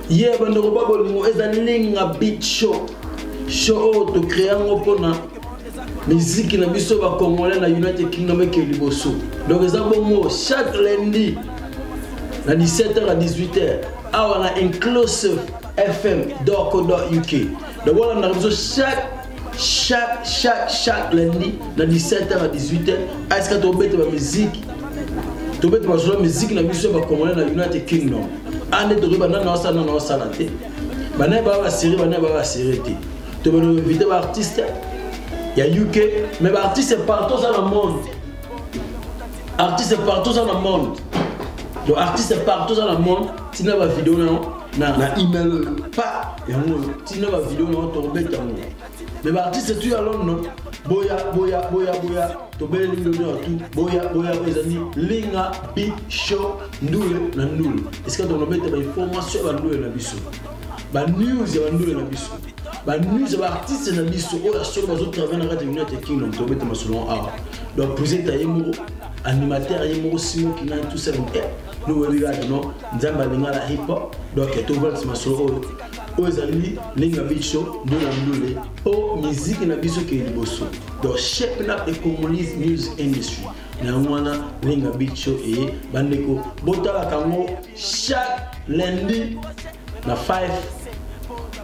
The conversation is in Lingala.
ye yeah, bandeko ba bolingo eza linga bit show show oyo tokrea yango mpona miziki na biso bacongolais na united kingdom eke liboso donc eza bongo chaque lundi na 17h à 18h awa na inclusive fm doko do uk donc olandaka biso chaque chaque chaque chaque lundi na 17h à 18h aska tobeta ba musique tobeta bazwa musique na biso ya bacongolais na united kingdom ande tokoki banda na osala na osala te banaye baa basere banaye baa basere te tobeloinvite baartiste ya uk mais baartiste partout oza na monde artiste partout oza na monde donc artiste partout oza na monde ntina bavideo na yo na, na email oyo pa yango oyo ntina bavideo na tokobeta yango me baartiste tu ya london boya boya boya boya tobeleli london ya tu boya boya oyo ezali linga bi show ndule na ndule esika tokobeta bainformation ya bandule na biso banews ya bandule na biso banews ya baartiste na biso oyo ya solo bazotravaille na kati ya united kingdom tobeta masolo awa donc presenta ye moko animateur ye moko simo kinani tout ça nous oyebi kaka no nzambe alinga na hip hop donc tovalisa masolo oyo oyo ezali linga bicho ndula ndule mpo miziki na biso kei liboso donc shaping up the congolese music industry na yango wana linga bicho eye bandeko botalaka yango chaque lundi na 5